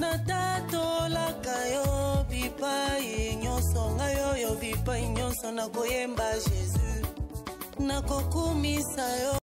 natatolaka yo bipai nyonso ngai oyo bipai nyonso nakoyemba jésus nakokumisa yo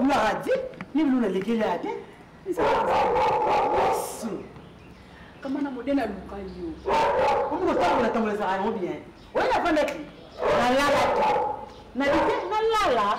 obladi nini luna lekeli ate kama na modele aluka yo omokotambola tambola ezaka yango bien oye nafandaki nalalaki nalite nalala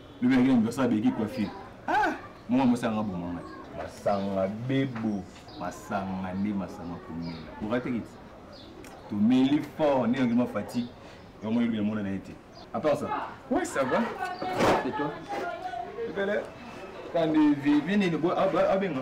lobi nake na anniversaire ya beki kuafi ah, mwa mosanga boma ngai masanga bebo masanga nde masanga komela oratekiti tomeli fort nde yangi mafati yango elobi yamona na ye te à part ça ouais ça va et toi ebele kandi vivi nini abenga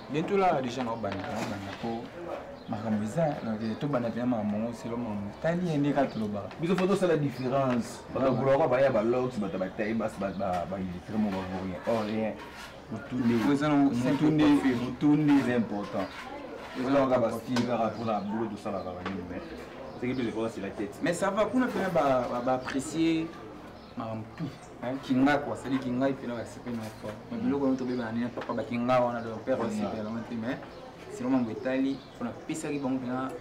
bientôt là déjà na obanda na obanda po makambo eza donc eh, tobanda mpena makambo yango selo makambo tali ye nde kaka tolobaka biso fo tosala différence bakakulaka baya balox bato batai basi bailitre moko rien or oh, rien motunde motunde eza important ezalaka bastile kaka mpona bolo tosalaka banini mais ce qui plus important c'est la tête mais ça va kuna mpena baapprécier makambo tout nayaki ngako asaliki ngai mpena respect na fort mais biloko yango tobebana nini papa bakinga wana de père respect yango te mais sino mambo etali mpona pesaki bango mpena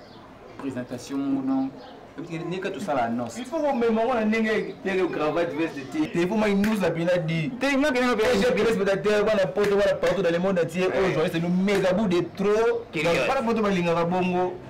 présentation moko donc ndenge kati osala annonce il faut komema ngo na ndenge ndenge cravate veste te te po mai nous la bina di te nga bina be je que spectateur bana poto bana partout dans le monde entier oyo journaliste nous mega bout de trop bana poto balingaka bongo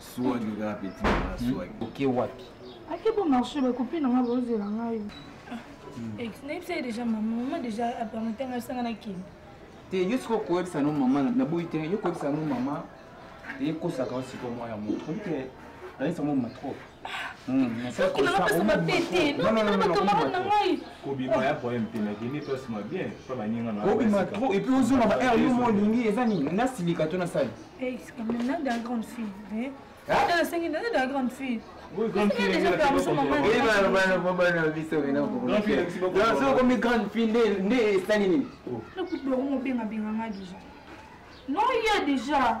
swagi kaka peti nanga swagi oke wapi ake bo marché bakopi nanga bozela ngai nayebisa ye déjà mama mama déjà apamata ngai sanga nakende te yo sikoyo koyebisa no mama naboyi te yo koyebisa no mama ekosaka yo sikoyo mwa ya moto obi te nayebisa mwa mama trop obima trop epuis ozonga ba aire yo mo olingi eza nini nasilika to nasali nasengi naza de la grande fille okomi grande fille nde esali nini nakuti bakomobengabenga nga déjà non ya déjà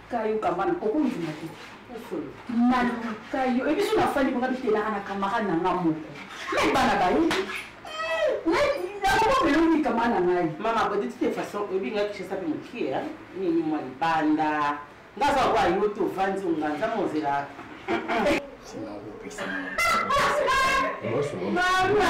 kayo kambana okondima te naluka yo ebiso nafandi bonga bitelaka na kamarade na nga moko me bana bayebi nakomelongi kama na ngai mama boditi de façon oyebi ngai kishasa mpe mokie nini mwa libanda nga aza kwa yo te ovandi onga nza mozela Mama!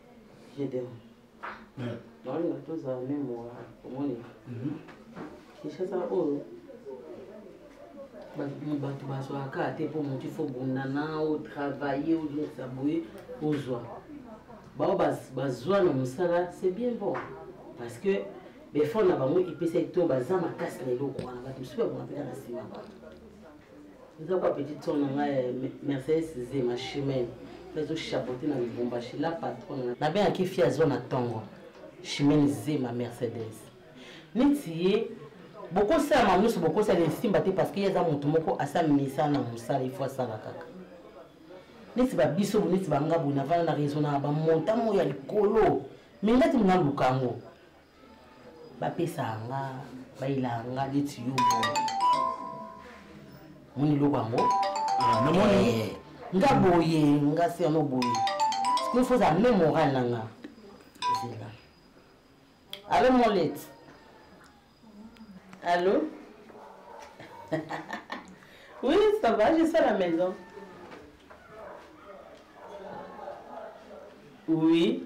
naolinga tozala meme wa omoni mhm. kinshasa oyo bato bazwaka te mpo motu ifo bundana otravaille olinisa boye ozwa bao bazwa na mosala c'est bien bon parce que befort na bango epesaki to baza makasi na eloko wana bato mosusu babonga mpena na nsima bato eza kwa petit son na ngai eh, mercedes zema chimene ezo chapote na lubumbashi la patron nabengaki fi azwa na ntongo chimene zema mercedes neti ye bokosala mamu nyonso bokosala esimba te parce que ye aza moto moko asa misala na mosala ifo asala kaka neti babiso bo neti banga boye navanda na raisonnaka bamonta moyo ya likolo me ngati mnaluka yango bapesaka nga bayelaka nga neti yo moni eloko yango ah, namoni eh, nga boye nga serno boye sikoyo fo ozala meme moral na nga zela alo molet alo oui ça va je suis à la maison oui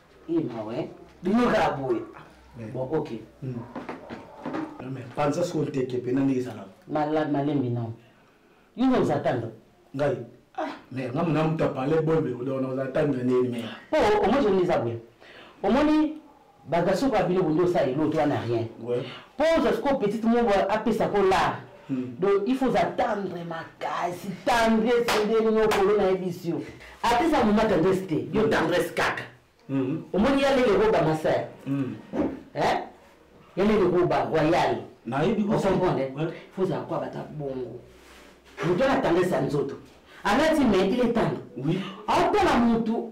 Eh mawa eh. Bino kaka boye. Bon ok. Hmm. Mais panza soko nteke mpe nani ezala. Malembi nao. Yo nde ozatanda. Ngai. Ah, mais nga mona moto apale boyebe odona ozatanda nini mais. Po omoni zoni eza boye. Omoni bagasoko ya bino bondi osala eloko to wana rien. Po ozwa sikoyo petite moko apesa ko lar. Hmm. donc il faut atendre makasi tendresse ndenge nokolo nayebisi yo ata eza moma tendresse te yo hmm. tendresse kaka hmm. omoni ya lele roba masaya ya lele roba royal okomprendre faut ozala kwa bata bongo moto ana tendresse ya nzoto alati mais il est tendre atala motu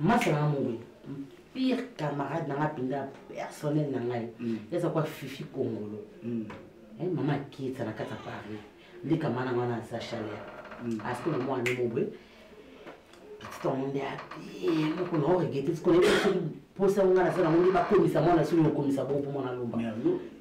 masa nanga mongwe pire camarade nanga mpenza personnel na ngai mm. eza kwa fifi kongolo mm. eh, mama akietsa na kati ya paris nde kama nanga wana aza chaleur mm. aske na mwana mobwe petite yango nde abie moko na oregete tikona mposa yango ngai naza nango nde bakomisa mwana soki okomisa bongo mpo mwana lomba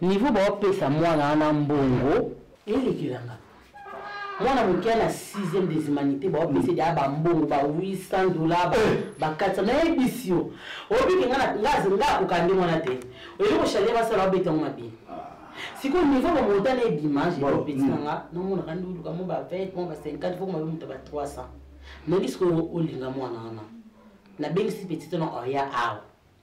niveau baopesa mwana wana mbongo elekelanga mwana moke na 6e des humanités baopesa ede aba mbongo ba 800 dollar ba 400 eh. nayebisi yo obike nga nga akoka nde mwana te oyebi koshale basala babeta yango mabe ah. sikoyo niveau bamonta na ebima jeopeti na nga namonaka nde oluka mo ba 20 mo ba 50 fo mabe moto ba 300 nayebi sikoyo olinga mwana wana nabengisi petite na oya awa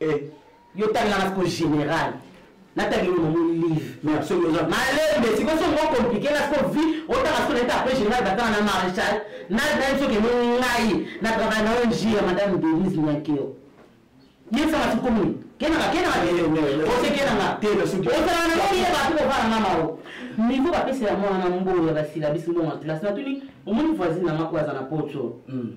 eh. yo tangelaka siko général natangi no moni live malembe siko so mo compliqué la siko vi otanga siko naita après général batanga na maréchal nayi soki eno ngai na travaille na ong ya madame denise nyakeo yesaka siko moni kenaka kenaka ose kenaka osalaka na moni yeba ati kovana nga mao mivo bapesela mwana na mbongo ya basilabisi mbongo ya kelasi natuni omoni voisine na mako aza na poto hmm.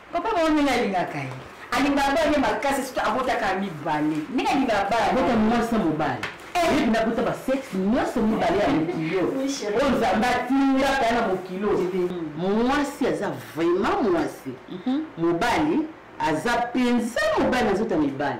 Papa mama ndenge alingaka ye alingaka bana ye makasi soki abotaka mibale ndenge alingaka bana abota mwasi na mobali eh. nakuta basexe nyonso mibale ya mokilo oyo nzambe atindaka na mokilo mwasi aza vraiment mwasi mhm. mobali aza mpenza mobali na nzoto ya mibali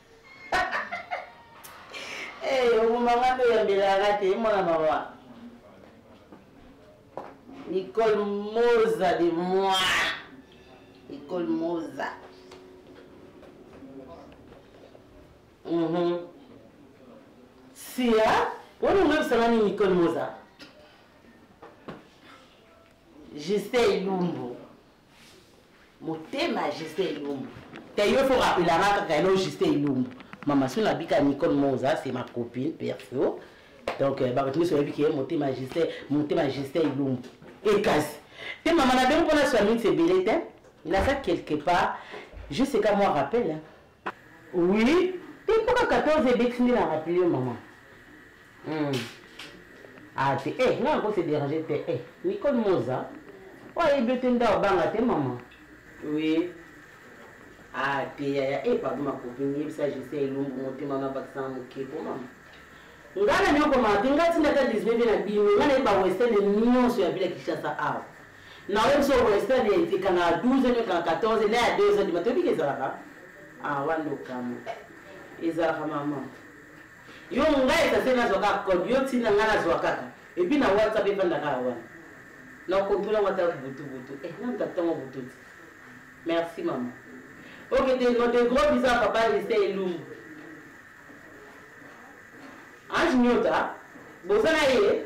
Hey, eh, omomanga mpe oyambelaka te mwana mawa nicole moza de moi nicole moza mhm. sia wana oyebisanga nini nicole moza justin lumbu motema ya juste elombo te yo fo rapelanga kaka elo juste elombo mama so nabika nicole moza c'est ma copine perso donc euh, bato nyonso bayebi ke motema ya juste motema ya juste elombo ekasi te mama na bino mpona sua minutes ebele te naza quelque part juste ka mwa rappel hein. Oui, te mpo ka 14 ebeti nde na rappele yo mama. Hmm. Ah te, eh, nga nako se déranger te, eh, Nicole Moza, oyo ayebi yo te nda obanga te mama. Oui. Ah te yaya, eh, pardon ma copine, yebisa Gisèle Elumbu motema na bakisa na moke po mama. Nga na nyokomaka te, nga tinda ata 19 na bino, nga nayebi ba western nyonso ya bila Kinshasa awa. Na oyebi so western ekanga 12 no ekanga 14 na ya 2 heures du matin oyebi ke ezalaka ah wana nde okamwe ezalaka mama yo ngai esase nazwa kaka code yo ntina ngai nazwa kaka epuis na whatsapp efanda kaka wana na kontrole yango ata butubutu eh, namta ntango bututi merci mama oke te no de gros bisa papa lise elumbu ange nyota boza na ye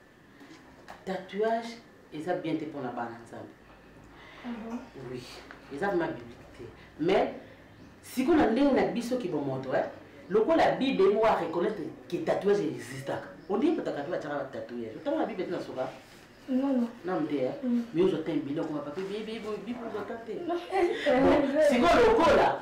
tatouage eza bien te mpona bana nzambe mhm. oui eza vrima biblique te mais sikoyo na ndenge na biso kibomoto e eh, lokola bible emo a reconnaître ke tatouage existaka ondie kotaka mpe batiaka batatouage otanga na bible te na soka nam te eh. mm. mais ozwa te mbila okoma pape bibuzoka te sikoyo lokola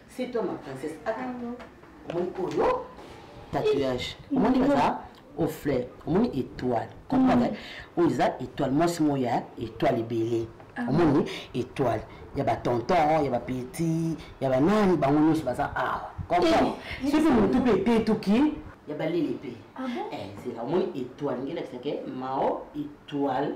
C'est toi ma princesse. Attends. Omoni oyo tatouage. Omoni baza au flair. Omoni étoile. Comprendre? Mm. Oyo eza étoile. Moi c'est moi ya étoile ebele. Ah Omoni étoile. Ya ba tonton, ya ba petit, ya ba nani bango nyonso baza awa. Comprendre? Eh, Soki mutu pe etetuki ya balele pe. Ah bon? Eh, c'est la omoni étoile ngelakisa ke mao étoile.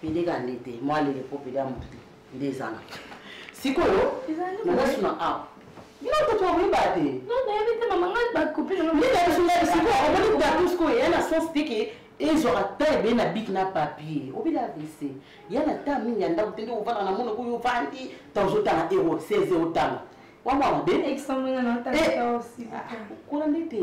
pede ka nde te mwa lele mpo pede ya moto te nde ezala sikoyo nazasuna a bino toto okoyeba te omoni gatus koyo ya na sens te ke ezwaka ta ebele na bik na papier obila avc ya na ta mingi ya ndako te nde ovanda na mono koyo ovandi ta ozotanga ero 16 otanga wamwa mabe kola nde te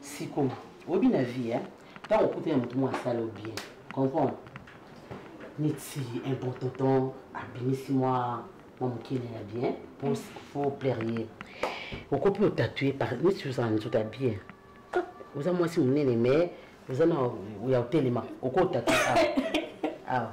siko oyebi na vie hein ntango okuti na moto moko asala yo bien comprendre neti un bon tonton abimisi mwa mwa mokene ya bien po fo plaire ye oko mpe otatue par neti ozala nzoto ya bien oza mwasi monene mais oza na ya otelema oko otatue awa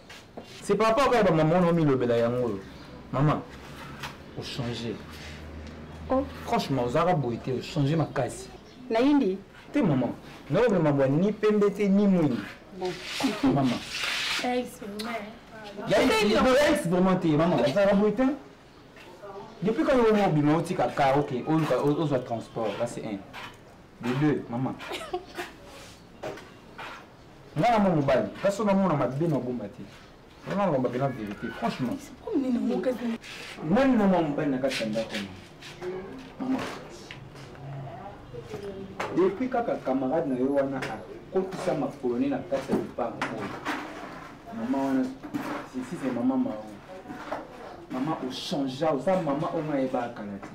c'est par rapport kaka bamama wana omilobela yango oyo mama ochange oh. franchement ozalaka boye te ochange makasi nayindi te mama naomema bwa ni pembe te ni mwingi mama yais vraiment te mama ozalaka boye te depuis quand yo mobima otika ka ok ozwa transport kasi 1 de 2 mama Mwana mwa mobali, kasi na mwana mabe na bomba te. Wana na lombaka na verite, franchement. Nani na mwa mobali na kati ya ndako na mama. Depuis kaka camarade na yo wana akotisa makolo ne na kati ya lopango oyo. Mama wana, sisi mama mao. Mama, ochangea, oza mama oyo nayebaka kala te.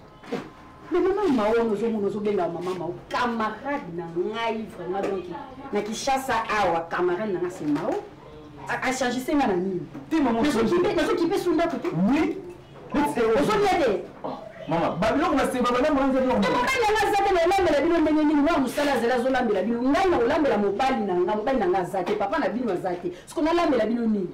Mais maman Mao, nous avons nous benga maman Mao, camarade na ngai vraiment donc na Kinshasa awa camarade na c'est Mao. A changer ça na nini? Te maman, nous sommes kipe, nous sommes kipe sunda kutu. Oui. Nous sommes yade. Maman, ba biloko na seba bana mwanza biloko. Te maman na ngai zate na lambela bino ndenge nini? Mwa musala zela zo lambela bino. Ngai na lambela mobali na ngai, mobali na ngai zate, papa na bino zate. Siko na lambela bino nini?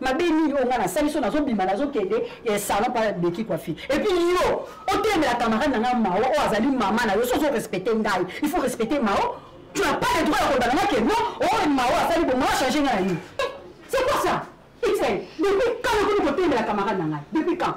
mabe nini oyo ngai nasali so nazobima nazokende eh, salon mpa beki kwafi epuis yo otelemela camarade na ngai mao oyo azali mama na yo so ozorespecte ngai il faut respecte mao tu n'as pas le droit ya koloba na ngai ke non oyo oh, mao asali bongo achange ngai na yo eh, c'est quoi ça ixel depuis quand nakomi kotelemela camarade na ngai depuis quand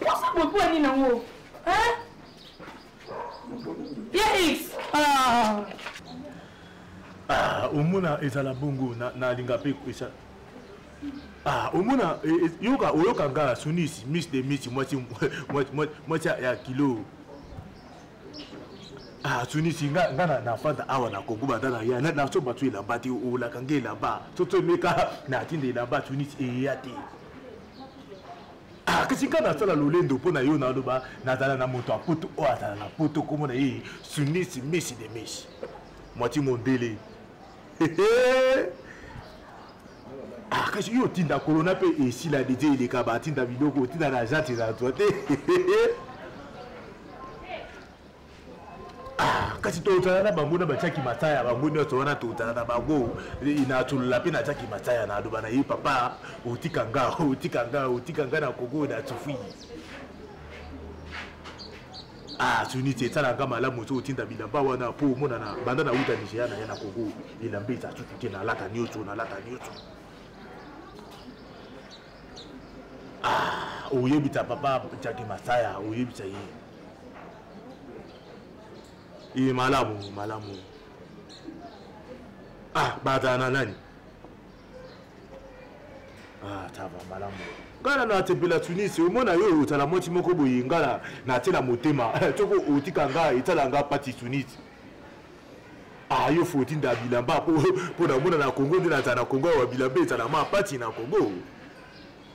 Osa boye mpo nini yango? Hein? Ya X. Ah. Ah, omona ezala bongo na nalinga pe esa. Ah, omona e, e, yoka oyoka nga sunisi miss de miss mwasi mwasi mwasi ya kilo. Ah, sunisi nga nga na na fanta awa na Congo banda na ya na na so batu elamba te olaka nge elamba. Toto meka na tinde elamba sunisi eyate. Ah, kasi ngai nasala lolendo mpo na yo naloba nazala na moto ya poto oyo azala na poto nkombo na ye sunisi misi de misi mwati mondele ah, kasi yo otinda kolona mpe esila deje eleka batinda biloko otinda na agence ezala twa te Ah, kasi totala na bango na batiaki mataya bango nyonso wana totala na bango natolola mpe natiaki mataya naloba na ye papa otika nga otika nga otika nga na kongo na tufui ah suniti esalaka malamu so otinda bilamba wana mpo omonana banda na uta nigeria na ye na kongo elamba eza sutu te nalata nyonso nalata nyonso ah oyebisa papa jaki masaya oyebisa ye iye malamu malamu ah bata na nani ah tava malamu ngana na atepela tunis omona yo otala mwati moko boye ngana na atela motema toko eh, otika nga etala nga pati tunis ah yo fo otinda bilamba mpo na omona na congo nde nazala na congo awa bilamba ezala ma pati na congo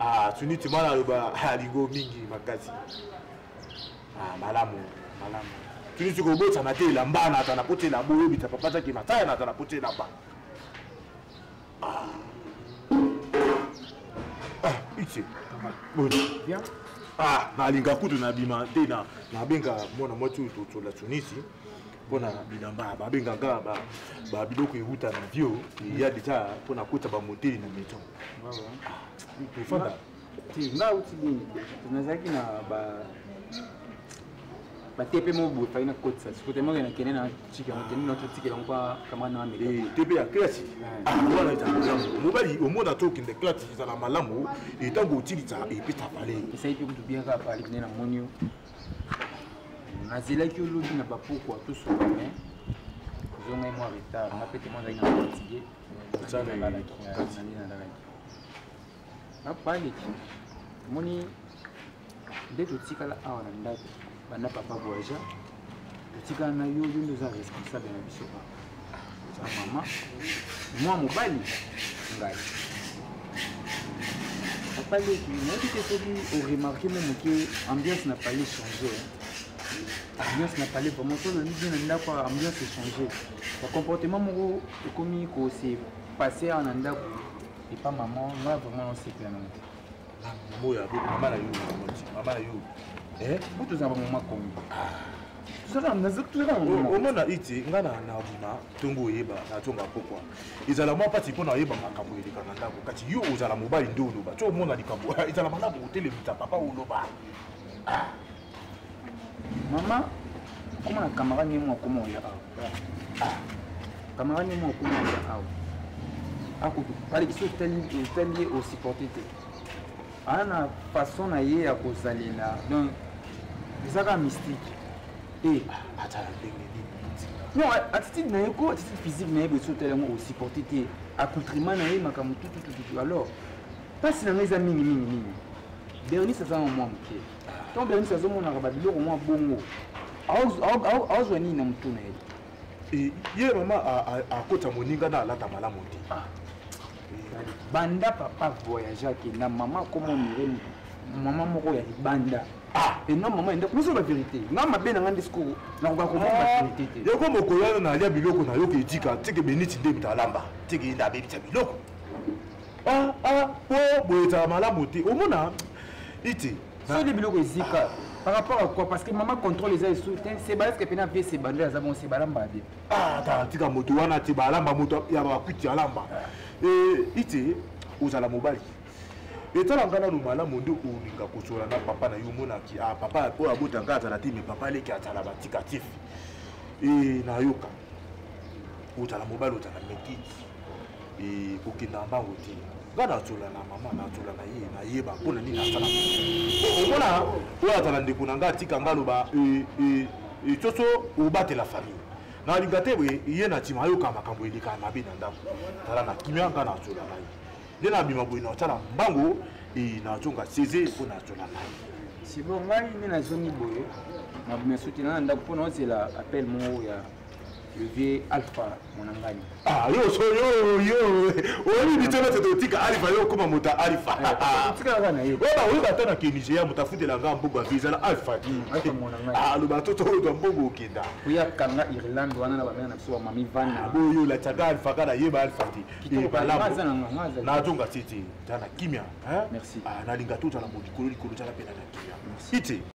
ah tuni tima naloba aligo mingi makasi ah malamu malamu tuni tikobotana te elamba na ata napoti elamba oyebisa papa zaki mataya na ata napoti elamba ah. ah itie ah nalinga kutu nabima te nabenga mwana mwasi oyo tocola tunisi mpo na bilamba babengaka babiloko ewuta na bio eya deja mpo na kota bamoteli na maison tofanda nga uti nini nazalaki na batepe moko boye faki nakotisa siko te moko nakende na tika nakende na totikela yango kamana na mele eh, tepe ya klasi wana eza malamu mobali omona to okende klasi ezala malamu etango otilisa epesa pale esai mpe kutu biaka pale kende na monio nazelaki olobi na bapokwa tosoba me ozongai mwa retard nga mpe temo azalaki na fatigue nalalaki napaleki omoni nde totikala awa na ndako banda papa voyageur totikala na yo yo nde oza responsable na biso awa za mama mwa mobali ngai apaleki nayebi te soki oremarke mo moke ambiance na pale change ambiance na pale vraiment to nani bien na ndako ambiance echange bacomportement moko ekomi kose passe awa na ndako epa mama ngai vraiment nasepela nango te boya bo mama na yo moti mama na yo eh bo toza ba mama kongo omona iti ngai na bima ntongo oyeba nazonga pokwa ezala mwa mpasi mpo na oyeba makambo eleka na ndako kasi yo ozala mobali nde oloba ti omona likambo ezala malamu otelemisa papa oloba ah. mama koma na camarade nemo akoma oya awa ah, camarade nemo akoma oya awa akobalekisi otali ye osupporte te aa na façon na ye ya kozalela donc eza kaka mystique e eh, atala ndenge nini non attitude na ye ko attitude physique na ye bosi otali yango osupporte te accoutrement na ye makambo tututututu alors mpasi na ngai eza mingi mingi mingi bernice aza na mwa moke ntango bianisi azomonaka babiloko mwa bongo aozwa nini na motu na ye eh, ye mama akota moninga na alata malamu te ah. banda papa voyage akenda mama akomonire mama moko ya libanda ah. ena mama enda komiso ba verité nga mabe na nga nde sikoyo nakoka komona ba ah. verité te yoko mokolo wana na alya biloko na yoka etika teke beniti nde moto alamba teke enda abebisa biloko ah ah po boye ezala malamu te omona iti soni biloko ezika par rapport à quoi parce que mama contrôle eza esu te sebalesque mpe na vie sebando aza bongo sebalamba bien ah, ata tika moto wana te balamba moto ya bakuti alamba iti ozala mobali etala ngai nano malamu nde olinga kosola na papa na yo omonaki ah, papa oyo abota ngai azala te me papa aleki azala batikatif e nayoka ozala mobali ozala meki eh, kokenda na bango te nga natsola na mama natsola na ye nayeba mpo na nini asala omona oyo azala ndeko na nga atika nga aloba coco eh, eh, obatela famille nalinga te boye ye na nsima ayoka makambo elekaka mabe na ndako tala na kimia nga natsola na ye nde nabima boye natsala mbango nazonga seze mpo natsola na ye sibo ngai nde nazongi boye mabume soki na na ndako mpo naozela appel moko ya le vieux alpha monangani ah yo so yo yo oyebi bitema te totika alpha yo okoma moto ya alpha otikalaka na ye oyo bakoyeba ata na ke nigeria moto afutela nga mbogo avi ezala alpha aloba to toyodwa mbogo okenda oya kanga irlande wana na bamena na biso bamami vana boyo latiaka alpha ka nayeba alpha te nazonga te te ta na kimia nalinga tozala molikolo likolo tala mpe na na kimia ite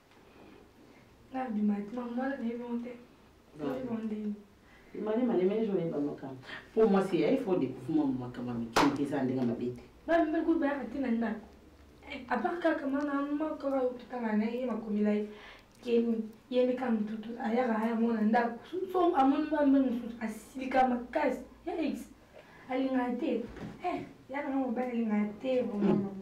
mane mane mene joli ba makambo po mwasi ya ifo dekuvuma mu makambo ya mike mike eza ndenge mabe te bamibekubayaka te na ndako apart kaka mwana moko otutana na ye makomela ye keni ye nde ka motutu ayaka aya mwana ndako so amoni bambe mosusu asilika makasi ya ex alingaka te ya nanga mobali alingaka te vraiment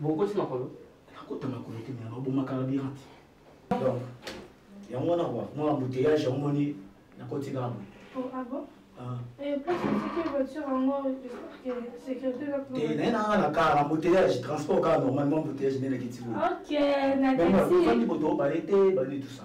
bokoti makolo nakota makolo te me baboma carburant donc yango wana kwa mwa embouteillage yango moni nakoti kaka boye te naye nanga na kar embouteillage transport kaka normalement embouteillage nde nakiti boyeondi boto baye te bani tout ça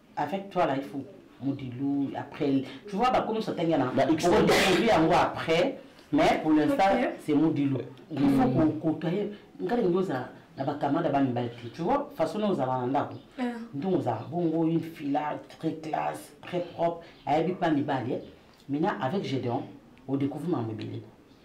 avec toi là il faut modilou après tu vois bah comme ça t'as gagné bah il faut dire en quoi après mais pour l'instant c'est modilou il faut qu'on mm. côtoie ngali ngoza na bakamada bamibali te tu vois façon na ozala na ndako ah. ndongo ozala bongo une fila très classe très propre ayebi mpa mibali eh. maintenant avec gédéon odécouvre mambo ebele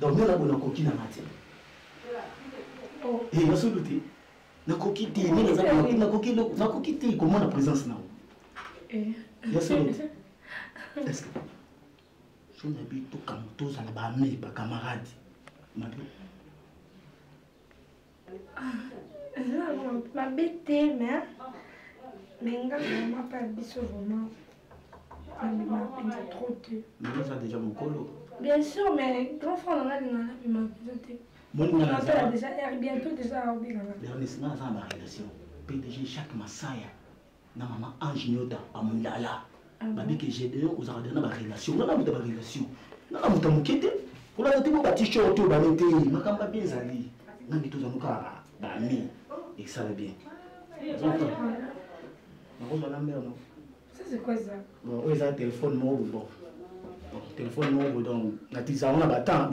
Donc nga na bona koki na nga te. Oh. Eh, na solo te. Na koki te, ni na za na koki na koki loko, na koki te comment la présence na yo. Eh. Ya solo te. Est-ce que so na bi to kam to za na ba amis, ba camarades. Ma bi. mabe te me me nga vraimen mpe ya biso vraimen abima mpenza trop te naza deja mokolo bien sûr mais grand frère nanga linga nabima mpenza te monasala deja r bientôt deja aobenganga bernisma aza na barelation pdg chaque masaya na mama ange nyota amulala ah babi ke gedeon ozalaka deja na barelation nga na moto ya barelation nga na moto ya moke te kolata te mpo batishor te obale te makambo mabe ezali ngangi tozanu kaka bami ekisala bien nakozala mbela no oyo eza telefone moko bobo telefone moko bodo na tisa yango na batemp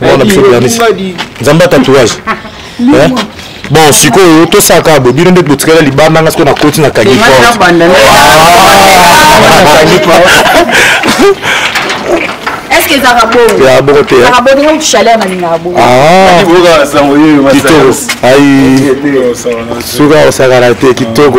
mwana biso blanisi nzambe tatouage eh? bon sikoyo tosaka bo bino nde botikala libanda nga sikoyo nakoti na kangi eske ezaka bongo ya bongo te ezaka bongo ndenge chaleur na lingaka bongo kitoko ai soki osakana te kitoko